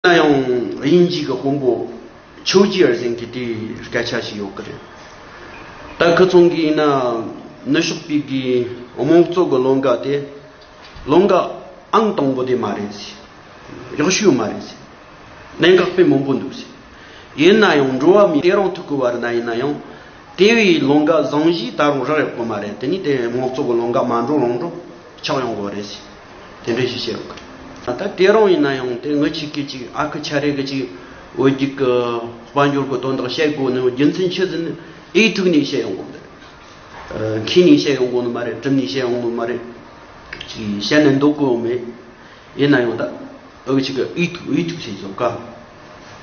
ན་ཡང་དབྱིན་ཇིའི་གི་དཔོན་པོ་ཆོས་རྗེ་ཨེར་ཟིང་གི་དེའི་སྐད་ཆ་ཞིག་ཡོད་གི་རེད། ད་ཁི་ཚོང་གི་ཡིན་ན་ནུ་ཞོགས་པའི་གི་རྨོངས་གཙོ་གི་ལོ་འགའ་དེ་ལོ་འགའ་ཨང་དང་པོ་དེ་མ་རེད་ཟེ། གཡོག་ཤོས་མ་རེད་ཟེ། གནད་འགག་པའི་མང་པོ་འདུག་ཟེ། ཡིན་ན་ཡང་འགྲོ་བ་མིའི་སྐད་རང་ཐུག་གི་བར་ན་ཡིན་ན་ཡང་དེ་བས་ལོ་འགའ་བཟང་བཞིའི་ད་རུང་རག་ཡོད་གི་མ་རེད་དེ་ནི་དེ་རྨོངས་གཙོ་གི་ལོ་འགའ་མ་འགྲོ་རང་འགྲོ་ཆགས་ཡོང་གི་བ་རེད་ཟེ། དེ་འདྲའི་གཞི་བྱས་ཡོང་གི། ད་ལྟ་བྲེལ་རུང་ཡིན་ན་ཡང་དེ་ངུ་ཆིག་གི་ཅིག་ཨ་ཁུ་ཆ་རེ་གི་ཅིག་འོད་རྒྱུག་གི་དཔལ་འབྱོར་གི་དོན་དག་བཤད་དགོས་ནི་རྒྱུ་མཚན་ཆོས་ཚན་ཨེ་དྲུག་ནས་བཤད་ཡོང་དགོས་ནི་རེད། མཁྱེན་ནས་བཤད་ཡོང་དགོས་ནི་མ་རེད་གྲུབ་ནས་བཤད་ཡོང་དགོས་མ་རེད། ཅིག་བཤད་ནས་འདོད་དགོས་ཡོད་མེད། ཡིན་ན་ཡང་ད་ཨ་ཁུ་ཆིག་གི་ཨེ་དྲུག་ཨེ་དྲུག་བྱས་ཆོག་ག།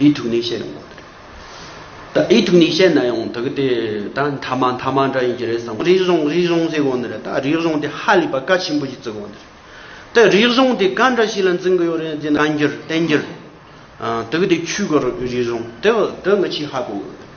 ཨེ་ཐུག་ནས་བཤད་ཡོང་བ་རེད། ད་ཨེ་ཐུག་ནས་བཤད་ན་ཡང་དག་དེ་ད་མཐའ་མ་མཐའ་མ་འདྲ་ཡིན་གྱི་རེད་བསམ་རིག་གཞུང་རིག་གཞུང་ཟེར་དགོས་ནི་རེད་ད་རིག་གཞུང་དེ་ཧ་ལས་པ་གལ་ཆེན་པོ་ཞིག་བརྩི་དགོས་ནི་རེད། ད་རིག་གཞུང་དེ་ག་འདྲ་ཞིག་ལ་འཛིན་གི་ཡོད་རེད་འདི་ནང་འགྱུར་བསྟན་འགྱུར། དག་དེ་ཆོས་གོ་རིག་གཞུང་དེ་དེ་ང་ཆེས་ཧ་གོ་གི་ཡོད་རེད།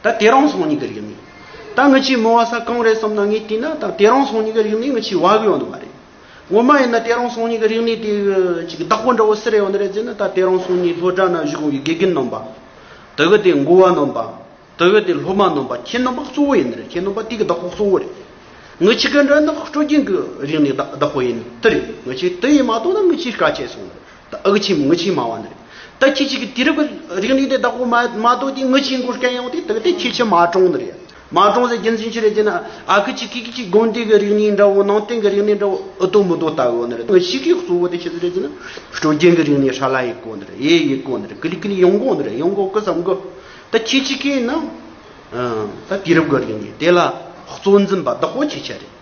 ད་དེ་རང་སོང་གཉིས་ཀའི་རིགས་མིན། ད་ངི་ཆིའི་མི་བ་ས་གང་རེད་བསམ་ན་ངས་བལྟས་ན་ད་དེ་རང་སོང་གཉིས་ཀའི་རིགས་ནི་ངི་ཆིའི་བ་གི་ཡོང་ནི་མ་རེད། ངོ་མ་ཡིན་ན་དེ་རང་སོང་གཉིས་ཀའི་རིགས་ནི་དེ་གཅིག་གི་བདག་པོ་འདྲ་བོ་སི་རེད་ཡོང་ནི་རེད་ཟེར་ན་ད་དེ་རང་སོང་གཉིས་ལྷོ་བྲག་ན་བཞུགས་གོང་གི་དགེ་རྒན་ནོམ་པ། དེ་གི་དེ་མགོ་བ་ནོམ་པ། དེ་གི་དེ་སློབ་མ་ནོམ་པ་ཁྱེད་ནོམ་པ་གཙོ་བོ་ཡིན་ནི་རེད་ཁྱེད་ནོམ་པ་དེ་གི་བདག་པོ་གཙོ་བོ་རེད། ངི་ཆི་གི་འདྲ་ནི་སྤྲོ་རྒྱན་གི་རིགས་ནི་བདག་པོ་ཡིན་ནི་དེ་རེད་ངི་ཆི་དེ་ཡིན་མ་གཏོགས་ན་ངི་ཆིའི་དཀའ་སྤྱད་སོང་ནི་རེད། ད་ཨག་ཆིམ་ངུ་ཆིམ་མ་བ་ནི། ད་ཁྱི་ཆི་གི་དི་རི་གི་རིག་གནས་དེ་བདག་པོ་མ་གཏོགས་དེ་ངུ་ཆིའི་མགོ་སྐྱ་ཡང་དེ་དག་དེ་ཁྱི་ཆི་མ་གྲོང་ནི་རེད། མ་གྲོང་ཟེར་རྒྱུ་མཚན་ཅི་རེད་ཅེ་ན་ཨ་ཁི་ཆི་ཁི་ཁི་ཆི་དགོན་དེ་གི་རིག་གནས་འདྲ་བོ་ནང་བསྟན་གི་རིག་གནས་འདྲ་བོ་ཨུ་ཏོ་མུ་ཏོ་ལྟ་བུ་ནི་རེད་ངུ་ཆི་གི་གཙོ་བོ་དེ་ཤི་ཟེར་རེད་ཅེ་ན་སྤྲོ་རྒྱན་གི་རིག་གནས་ཧྲ་ལ་ཡི་གོ་ནི་རེད་ཡེ་ཡི་གོ་ནི་རེད་ཀི་ལི་ཀི་ལི་ཡོང་གོ་ནི་རེད་ཡོང་གོ་ཀི་སམ་གི། ད་ཁྱི་ཆི་ཁི་ནི། ད་དི་རི་གི་རིག་གནས་དེ་ལ་གཙོ་འཛིན་པ་བདག་པོ་ཁྱི་ཆི་རེད།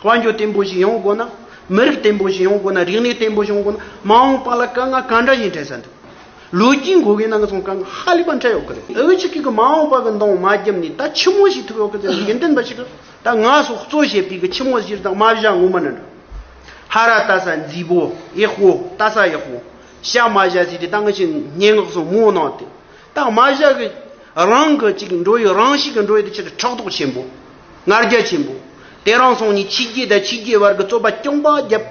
དཔལ་འབྱོར་བརྟན་པོ་ཞིག་ཡོང་དགོས་ན། མི་རིགས་བརྟན་པོ་ཞིག་ཡོང་དགོས་ན། རིག་གནས་བརྟན་པོ་ཞིག་ཡོང་དགོས་ན། མ་འོངས་པ་ལ་དཀའ་ངལ་ག་འདྲ་ཞིག་འཕྲད་ས་འདུག། ལོ་རྒྱུས་འགོད་མཁན་རྣམས་ལ་སོང་དཀའ་ངལ་ཧ་ལས་པ་འཕྲད་ཡོད་ཀྱི་རེད། འོས་ཆོས་ཀྱི་གི་མ་འོངས་པ་གི་མདོང་མ་བརྒྱབ་ནས་ད་ཕྱི་མོ་ཞིག་ཐུབ་ཡོད་ཀྱི་རེད་དགེ་འདུན་པ་ཞིག་གི་ད་ང་སོགས་གཙོ་བྱས་པའི་གི་ཕྱི་མོ་གཞིར་བདག་མ་བཞག་ངོ་མ་ནི་འདྲ། ཧ་ར་ལྟ་ས་འཛི་པོ་ཡེ་ཧོ་ལྟ་ས་ཡེ་ཧོ་ཤ་མ་བཞག་ཟེར་ཏེ་ད་ང་ཞིག་སྙན་ངག་སོགས་མང་གནང་སྟེ། སྟག་མ་བཞག་གི་རང་གི་ཅིག་འགྲོ་ཡི་རང་ཞིག་གི་འགྲོ་ཡི་དེ་ཕྱིར་ཕྲག་དོག་ཆེན་པོ། ངར་རྒྱ་ཆེན་པོ། དེ་རང་སོང་ནས་ཕྱི་རྒྱལ་དང་ཕྱི་རྒྱལ་བར་གྱི་རྩོད་པ་རྐྱང་པ་བརྒྱབ།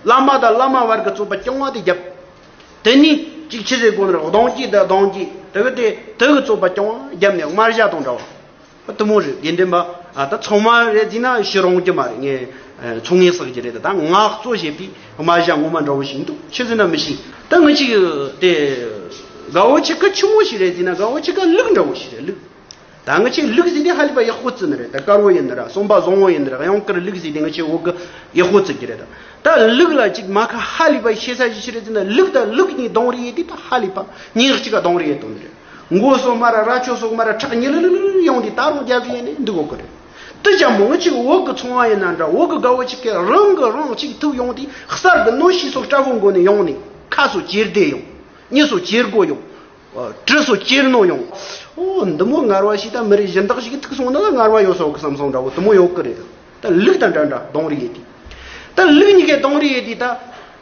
བླ་མ་དང་བླ་མ་བར་གྱི་རྩོད་པ་རྐྱང་བ་དེ་བརྒྱབ། དེ་ནས་ཅིག་ཕྱི་ཟེར་དགོན་ནས་གདོང་སྐྱེས་དང་གདོང་སྐྱེས་དེ་གི་དེ་དེ་གི་རྩོད་པ་རྐྱང་བ་བརྒྱབ་ནས་དམར་བཞག་དང་འདྲ་བ། གཏུམ་མོ་རེད་དགེ་འདུན་པ་ད་ཚང་མ་རེད་ཅིག་ན་ཤི་རུང་གྱི་མ་རེད་ངས་ཚོང་ངེ་བསགས་ཀྱི་རེད་ད་ངག་བཙོ་བྱེད་པའི་རྨ་བྱ་ངོ་མ་འདྲ་བོ་ཞིག་འདུག་ཁྱེད་ཟེར་ན་མི་ཤེས་ད་ངི་ཅིག་དེ་དགའ་བོ་ཆེ་ག་ཆུ་མོ་ཞིག་རེད་ཅིག་ན་དགའ་བོ་ཆེ་ག་ལུག་འདྲ་བོ་ཞིག་རེད་ལུག་ད་ངི་ཆེ་ལུག་ཟེར་དེ་ཧ་ལི་པ་ཡག་པོ་བཙི་ནི་རེད་ད་དཀར་བོ་ཡིན་ནི་ར་གསོན་པ་བཟང་བོ་ཡིན་ནི་ར་གཡང་དཀར་ལུག་ཟེར་དེ་ངི་ཆེ་འོག་གི་ཡག་པོ་བཙི་གྱི་རེད་ད་ད་ལུག་ལ་ཅིག་མ་ཁ་ཧ་ལི་པ་ཤེས་ས་ཅི་ཞིག་རེད་ཅིག་ན་ལུག་ད་ལུག་གཉིས་གདོང་རེ་ཡོད་དེ་ད་ཧ་ལི་པ་ཉིག་ཅིག་ག་གདོང་རེ་ཡོད་དོ་ནི་རེད། མགོ་སོགས་སྨ་ར་ར་ཁྱོ་སོགས་སྨ་ར་ཁྲག་ཉིལ་རིལ་རིལ་རིལ་ཡོང་དུས་ད་རུང་རྒྱབ་ཡས་ནས་འདུག་གོ་གི་རེད། ཏི་ཅག་མོ་གཅིག་འོག་གི་ཚོང་བ་ཡིན་ན་འདྲ་འོག་གི་དགའ་བོ་གཅིག་གིས་རང་གི་རང་གཅིག་ཐུག་ཡོང་དུས་གསར་གི་གནོད་གཤིས་སོགས་སྐྲ་བོ་མགོ་ནས་ཡོང་ནས་ཁ་སོགས་ཅེར་བདེ་ཡོང། མྱི་སོགས་ཅེར་མགོ་ཡོང། གྲི་སོགས་ཅེར་སྣོ་ཡོང། ཨོ་འདི་མོ་ངར་བ་ཞིག་ད་མི་རིགས་གཞན་དག་ཞིག་གི་ཐུགས་སོང་ན་ད་ངར་བ་ཡོད་སོགས་ཀི་བསམ་སོང་འདྲ་བོ་དུ་མོ་ཡོད་ཀི་རེད། ད་ལུག་དང་འདྲ་འདྲ་གདོང་རི་ཡས་དུས། ད་ལུག་གཉིས་ཀས་གདོང་རི་ཡས་དུས་ད།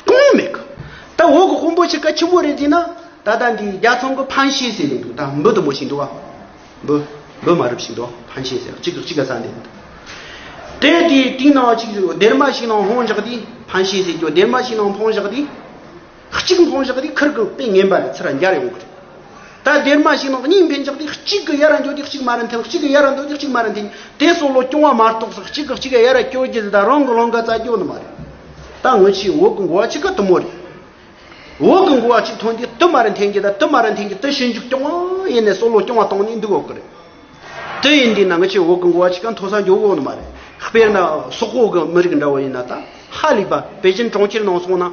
སྐུ་ངོ་མི་དགའ། ད་འོག་གི་དཔོན་པོ་ཆེ་ཀ་ཆེན་པོ་རེད་ཅེ་ན། ད་ལྟ་འདི་རྒྱ་ཚོང་གི་ཕན་ཤེས་ཟེར་ནས་འདུག་ད་འབུ་དུམ་བུ་ཞིག་འདུག་ཨ། འབུ། འབུ་མ་རུབ་ཞིག་འདུག་ཕན་ཤེས་ཟེར་གཅིག་གིས་གཅིག་གི་ཟ་འདོད་འདུག། དེ་དེའི་སྟེང་ན་གཅིག་ཟེར་སྡེར་མ་ཞིག་ནང་ལྷོང་བཞག་དུས་ཕན་ཤེས་ཟེར་གྱོ་སྡེར་མ་ཞིག་ནང་ལྷོང་བཞག་དུས། གཅིག་ལྷོང་བཞག་དུས་ཁིར་གི་དཔེ་ངན་པ་ལས་ཚུར་འགྱར་ཡོང་གི་རེད། ད་དེར་མ་བྱས་ན་གཉིས་འཕེན་ཆགས་ཏེ་གཅིག་གི་གཡའ་ར་འགྱོ་དེ་གཅིག་མ་ར་འཐེན་གཅིག་གི་གཡའ་ར་འདོ་དེ་གཅིག་མ་ར་འཐེན། དེ་སོགས་ལོ་སྐྱོང་བ་མ་གཏོགས་སུ་གཅིག་གིས་གཅིག་གི་གཡའ་ར་སྐྱོར་རྒྱུ་དེ་དག་རང་གི་ལོང་ག་རྩ་སྐྱོ་ནི་མ་རེད། ད་ངོ་ཆེའི་འོག་གི་འགོ་བ་གཅིག་ག་དུ་མོ་རེད། འོག་གི་འགོ་བ་གཅིག་ཐོན་དུས་དུ་མ་ར་འཐེན་གྱི་དང་དུ་མ་ར་འཐེན་གྱི་དུ་ཞིང་འཇུག་སྐྱོང་བ་ཡེ་ནས་སོགས་ལོ་སྐྱོང་བ་བཏང་ནས་འདུག་འོག་གི་རེད། དེ་ཡིན་དུས་ན་ངི་ཆོས་འོག་གི་འགོ་བ་ཆི་ཀ་མཐོ་ས་མགྱོགས་འོག་ནི་མ་རེད། དཔེར་ན་སོག་པོ་གི་མི་རིགས་འདྲ་བོ་ཡིན་ན་ད་ཧ་ལས་པ་པེ་ཅིན་གྲོང་ཁྱེར་ནང་སོང་ན།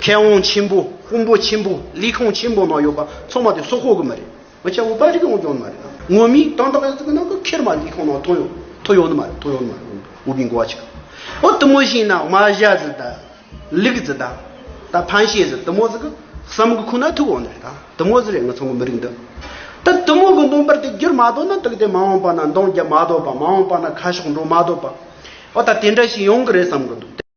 མཁས་དབང་ཆེན་པོ་དཔོན་པོ་ཆེན་པོ་ལས་ཁང་ཆེན་པོ་ནང་ཡོད་པ་ཚང་མ་དེ་སོག་པོ་གི་མི་རེད། ངི་ཆོས་འོག་པ་རིགས་འོང་རྒྱུའང་ནི་མ་རེད། ངོ་མི་དང་ཏག་ཏག་གི་ནང་གི་ཁེར་མ་ལས་ཁང་ནང་ཐོ་ཡོང་ཐོ་ཡོང་ནི་མ་རེད་ཐོ་ཡོང་ནི་མ་རེད་འོག་པའི་འགོ་བ་ཆི་ཀ། ཨོ་དུ་མོ་བཞིན་ན་མ་བཞའ་ཟི་ད། ལུག་ཟི་ད། ད་ཕན་བྱེད་ཟི་དུ་མོ་ཟི་གི་བསམ་གི་ཁོ་ན་ཐུག་འོང་ནི་རེད་ད། དུ་མོ་ཟེར་ཡང་ངོ་ཚ་མོ་མི་རིགས་འདི། ད་དུ་མོ་གི་མདུང་པར་དེ་བསྒྱུར་མ་ཐོག་ན་དུག་དེ་མ་འོངས་པ་ན་མདོང་རྒྱབ་མ་ཐོག་པ་མ་འོངས་པ་ན་ཁ་ཤོག་འགྲོ་མ་ཐོག་པ། འོ་ད་དེ་འདྲ་ཞིག་ཡོང་གི་རེད་བསམ་གི་འདུག་དེ།